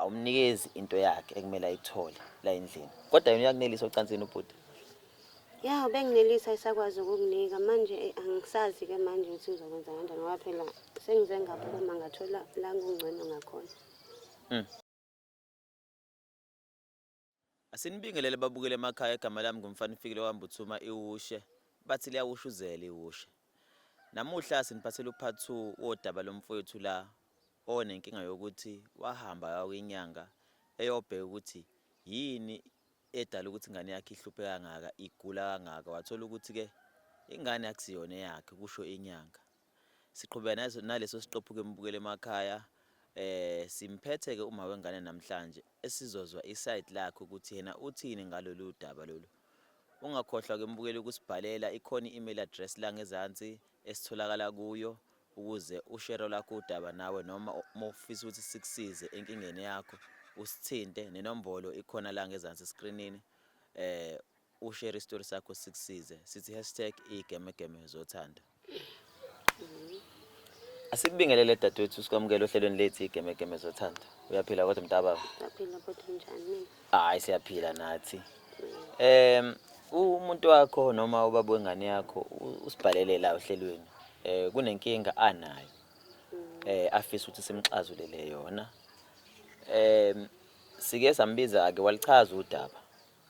awumnikezi into yakhe ekumele ayithole la endlini kodwa yena uyakunelisa ocansini ubhuti ya ubenginelisa isakwazi ukukunika manje eh, angisazi ke manje ukuthi ngizokwenza kanjani ngoba phela sengize ngaphuma ngathola la ngingcono ngakhona mm. Asinibingelele babukele emakhaya igama lami ngumfanifikile wambuthuma iwushe bathi liyawushuzela iwushe. Namuhla siniphathela upart 2 wodaba lomfowethu la onenkinga yokuthi wahamba yakwinyanga eyobheka ukuthi yini edala ukuthi ingane yakhe ihluphe kangaka igula kangaka wathola ukuthi ke ingane akusiyona yakhe kusho inyanga. Siqhubeka naleso siqephu ke mbukele emakhaya eh simphethe ke uma wengane namhlanje esizozwa iside lakhe ukuthi yena uthini ngalolu daba lolu ungakhohlwa ke mbukeli ukusibhalela ikhona i-email address la ngezansi esitholakala kuyo ukuze ushero lakho udaba nawe noma uma ufisa ukuthi sikusize enkingeni yakho usithinte nenombolo ikhona la ngezansi eskrinini eh ushare istory sakho sikusize sithi hashtag igemegeme zothando asikubingelele dadewethu sikwamukele ohlelweni lethu igemegeme zothando uyaphila kodwa mntababa Ngiyaphila kodwa njani? hayi siyaphila nathi um umuntu wakho noma ubaba wengane yakho u- usibhalele la ohlelweni um kunenkinga anayo um afisa ukuthi simxazulele yona um sike sambiza-ke walichaza udaba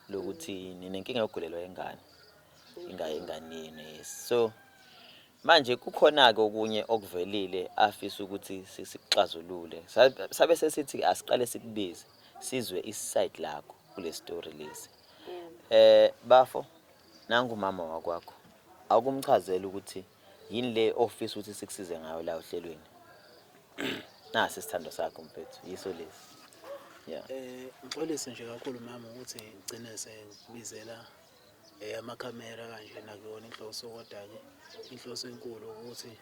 lokuthi ninenkinga yokugulelwa ingane ingaye ingane yenu yes so manje kukhona-ke okunye okuvelile afisa ukuthi sikuxazulule sabe sesithi asiqale sikubize sizwe iside lakho kule story lesi eh bafo nangu mama wakwakho akumchazela ukuthi yini le ofisa ukuthi sikusize ngayo la ohlelweni nasi isithando sakho mfethu yiso lesi yeah eh ngixolise nje kakhulu mama ukuthi ngigcine sengibizela eh amakhamera kanje nakuyona inhloso kodwa ke inhloso enkulu ukuthi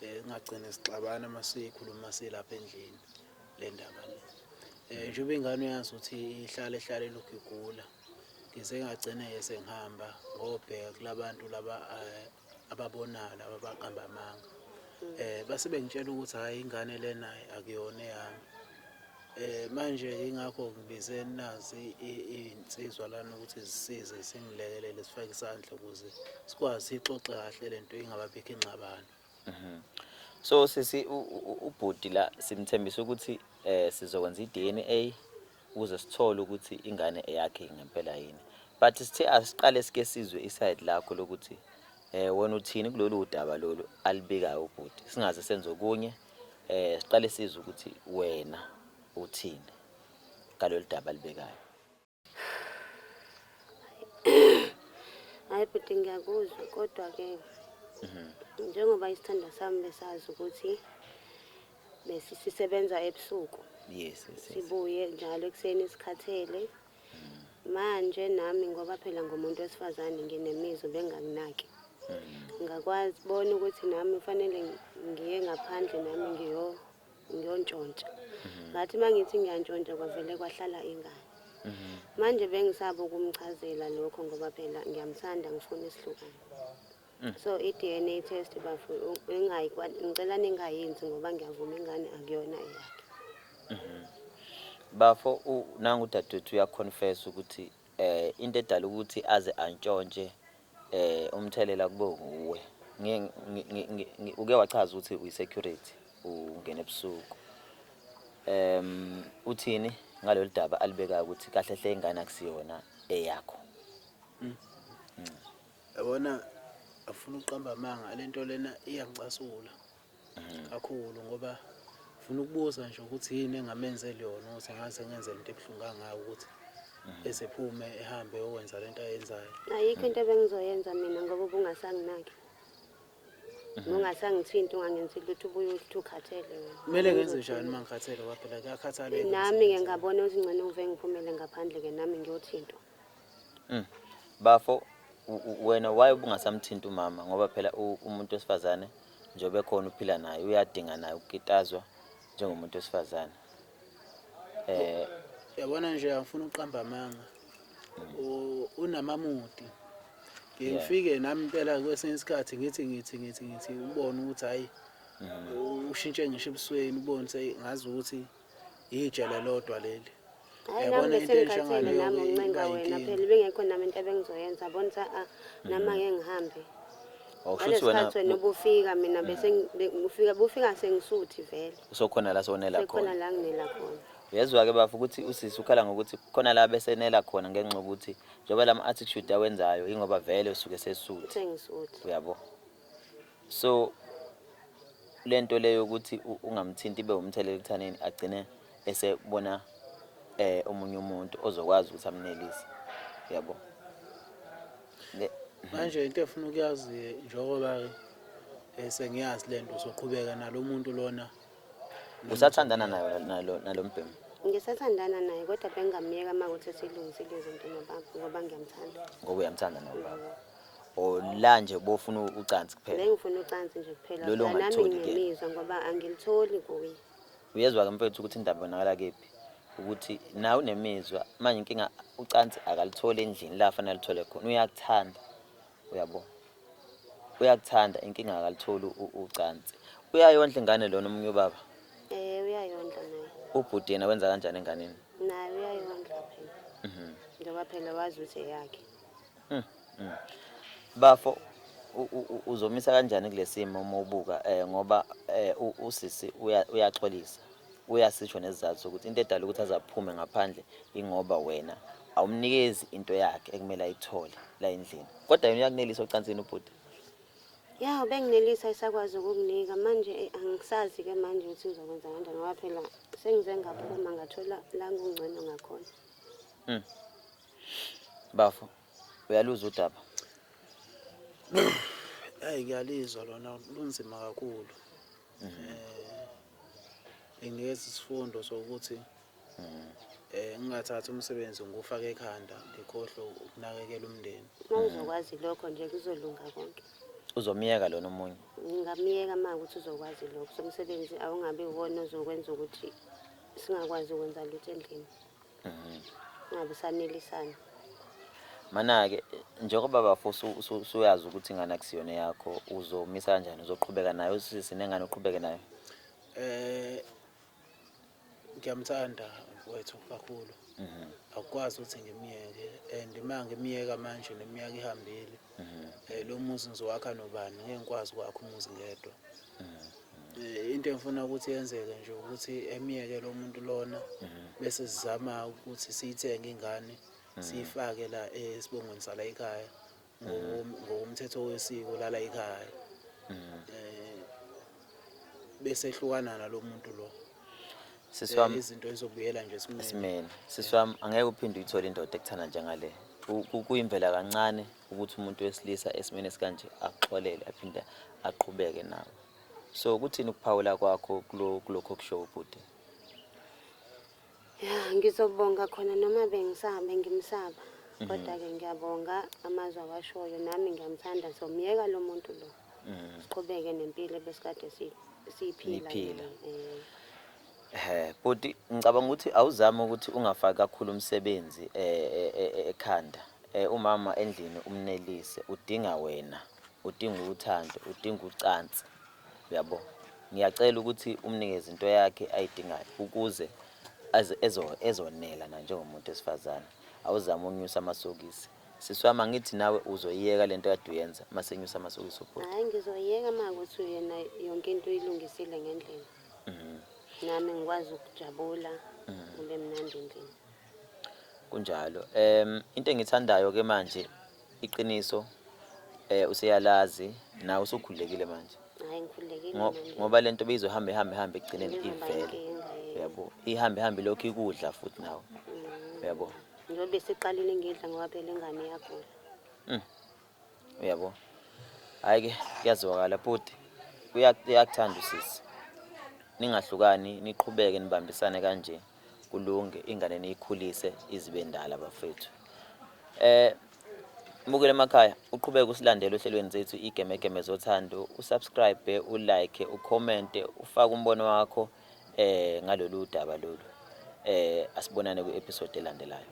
eh ngagcina sixabana masikhuluma silapha endlini le ndaba le um njengoba ingane uyazi ukuthi ihlale ihlale lokhu igula ngize ngagcine-ke sengihamba ngobheka kula bantu laba um ababonayo laba abaqamba amanga um base bengitshela ukuthi hhayi ingane le naye akuyona eyami Eh manje ingakho ngibize nazi izinsizwa lana ukuthi zisize singilekelele sifake isandla ukuze sikwazi ixoxe kahle lento ingababikho ingxabano. Mhm. So sisi u- u- u- ubhuti la simthembisa ukuthi eh sizokwenza iDNA ukuze sithole ukuthi ingane eyakhe ngempela yini. But sithe asiqale sike sizwe iside lakho lokuthi eh wena uthini kulolu udaba lolu alibikayo ubhuti. Singaze senze okunye eh siqale sizwe ukuthi wena uthini ngalolu daba alibekayo. hayi bhuti ngiyakuzwa kodwa-ke mhm. njengoba isithandwa sami besazi ukuthi sisebenza ebusuku yes, yes, yes. sibuye njalo ekuseni sikhathele mhm. manje nami ngoba phela ngomuntu wesifazane nginemizwa bengakunaki mhm. ngakwazi bona ukuthi nami kufanele ngiye ngaphandle nami ngiyo ngiyontshontsa mhm. ngathi uma ngithi ngiyantshontsha kwavele kwahlala ingane mhm. manje bengisaba ukumchazela lokho ngoba phela ngiyamthanda ngifuna isihlukane mm. so i-dna test bafo ngicela ningayenzi ngoba ngiyavuma ingane akuyona eyakhe mhm. bafo nangu dadewethu uyaconfessa ukuthi Eh into edala ukuthi aze antshontshe eh umthelela kube nguwe. Ngi uke wachaza ukuthi uyi security ungena ebusuku. Ehm uthini ngalolu daba alibekayo ukuthi kahle hle ingane akusiyona eyakho. Mm. Yabona afuna uqamba amanga lento lena iyangicasula. kakhulu ngoba funa ukubuza nje ukuthi yini engamenzeli yona ukuthi ngaze ngenzele into ebuhlungu kangaka ukuthi esephume ehambe yokwenza lento ayenzayo ayikho into ebengizoyenza mina ngoba ubungasanginaki ungasangithinti ungangenzi lutho ubuye uthi ukhathele wena kumele ngenze njani uma ngikhathele kwaphela kuyakhathaleka nami ngiyengabona ukuthi ngcono uve ngiphumele ngaphandle-ke nami ngiyothintwa Mm. Bafo wena why ubungasamthinti umama ngoba phela umuntu wesifazane njengoba ekhona uphila naye uyadinga naye ukukitazwa njengomuntu wesifazane eh yabona nje angifuna uqamba amanga mm. unamamuti ngifike nami impela kwesinye isikhathi ngithi ngithi ngithi ngithi ubone ukuthi hayi mm. ushintshe ngisho ebusweni ubone ngazi ukuthi ijele lodwa leli Hayi nami Yabona into enje besengikhathele nami ngaleyo uncenga iba wena inkinga. phela ibingekho nami into ebengizoyenza bona ukuthi a nami ake ngihambe. Oh, Ngale shuthi wena sikhathi wena ubufika mina bese ngi- be- ufika bufika sengisuthi vele. usokhona la sonela Sekhona khona. la nginela khona. Uyezwa ke bafo ukuthi usisi ukhala ngokuthi khona la besenela khona ngenxa ukuthi njengoba lama attitude awenzayo ingoba vele usuke sesuthi. Sengisuthi. Uyabo? so le nto leyo ukuthi ungamthinti ibe umthelela ekuthaneni agcine esebona eh omunye umuntu ozokwazi ukuthi amnelise yabo manje into efuna ukuyazi njengoba eh, sengiyazi le nto uzoqhubeka nalo muntu lona usathandana nayo nalo mbhemu ngisathandana naye kodwa bengingamyeka uma kuthi silungisile izinto nobaba ngoba ngiyamthanda ngoba uyamthanda nobaba or la nje bofuna ucansi kuphela Bengifuna ucansi nje kuphela. Lolu Phela nami ongalitholi ke. ngiyemizwa ngoba angilitholi kuye. uyezwa ke mfethu ukuthi indaba ibonakala kephi ukuthi nawe unemizwa manje inkinga ucansi akalitholi endlini la fanele alithole khona uyakuthanda uyabo uyakuthanda inkinga akalitholi u- ucansi uyayondla ingane lona omunye ubaba Eh uyayondla naye. ubhuti yena wenza kanjani enganeni Naye uyayondla phela. Mhm. Njengoba phela wazi ukuthi eyakhe. Mm, mm. Bafo uzomisa kanjani kulesimo uma ubuka eh ngoba eh usisi uyaxolisa uyasisho nesizathu sokuthi into edala ukuthi azaphume ngaphandle ingoba wena awumnikezi into yakhe ekumele ayithole la endlini kodwa yena uyakunelisa ocansini ubhuti ya ubenginelisa isakwazi ukukunika manje eh, angisazi ke manje ukuthi ngizokwenza kanjani ngoba phela sengize ngaphuma ngathola la ngingcono ngakhona mm. Bafo, uyaluzwa udaba? Ayi ngiyalizwa lona lunzima kakhulu. Mhm. Eh ngiyeza isifundo sokuthi mhm. eh ngingathatha umsebenzi ngufake ekhanda ngikhohle ukunakekela umndeni. Uma uzokwazi lokho nje kuzolunga konke. Uzomyeka lona omunye. Ngingamyeka uma ukuthi uzokwazi lokho somsebenzi awungabi wona ozokwenza ukuthi singakwazi ukwenza lutho endlini. ngabe usanelisana Mana-ke njengoba bafo usu- usu- usuyazi ukuthi ingane akusiyona yakho uzomisa kanjani uzoqhubeka nayo usisi nengane uqhubeke nayo Eh ngiyamthanda wethu kakhulu. Akukwazi ukuthi ngimyeke and uma ngimyeka manje neminyaka ihambile Eh, lo muzi ngizowakha nobani ngeke ngikwazi ukwakha umuzi ngedwa Eh, into engifuna ukuthi yenzeke nje ukuthi emyeke lo muntu lona bese sizama ukuthi siyithenge ingane siyifake la esibongweni sala ekhaya ngokom- ngokomthetho wesiko lala ekhaya Eh, bese ehlukana nalo muntu lo siswam eh, izinto ezobuyela nje esimeni siswam angeke uphinde uyithole indoda ekuthanda njengale kuyimvela kancane ukuthi umuntu wesilisa esimeni esikanje axolele aphinde aqhubeke nawo so kuthini ukuphawula kwakho kulokho kushow ubhuti ya ngizobonga khona noma bengisaba ngimsaba mhm. kodwa-ke ngiyabonga amazwi awashoyo nami ngiyamthanda ngizomyeka lo muntu lo siqhubeke nempilo ebesikade si- siyiphila Niphila. nayo. Eh, Ehhe, bhuti ngicabanga ukuthi awuzame ukuthi ungafaki kakhulu umsebenzi eh, eh, eh, eh, ekhanda Eh, umama endlini umnelise udinga wena udinga uthando udinga ucansi uyabo ngiyacela ukuthi umnikeze into yakhe ayidingayo ukuze aze- ezo- ezonela na njengomuntu wesifazane awuzame unyusa amasokisi Sisi wami angithi nawe uzoyiyeka lento kade uyenza masenyusa amasokisi ubhuti. Hayi ngizoyeka uma kuthi uyena yonke into uyilungisile ngendlela. Mhm. Nami ngikwazi ukujabula kube mnandi endlini. Kunjalo. Em into engithandayo ke manje iqiniso eh useyalazi nawe usukhulekile manje. Hayi ngikhululekile Ngo- mina nje. Ngoba lento beyizohamba ihambe ihambe ekugcineni Njengoba ivele. inkinga ye- Uyabo? Ihambe ihambe lokhu ikudla futhi nawe. Mm. Uyabo? njengoba eseqalile ngidla ngoba phela ingane yagula mm. uyabo hayi ke kuyazwakala bhuti uyakuthanda usisi ningahlukani niqhubeke nibambisane kanje kulunge ingane niyikhulise izibe ndala bafethu eh Mbukele emakhaya uqhubeke usilandele ohlelweni zethu igemegeme zothando usubscribe ulike ucommente ufake umbono wakho eh ngalolu daba lolu eh asibonane kwi-episode elandelayo.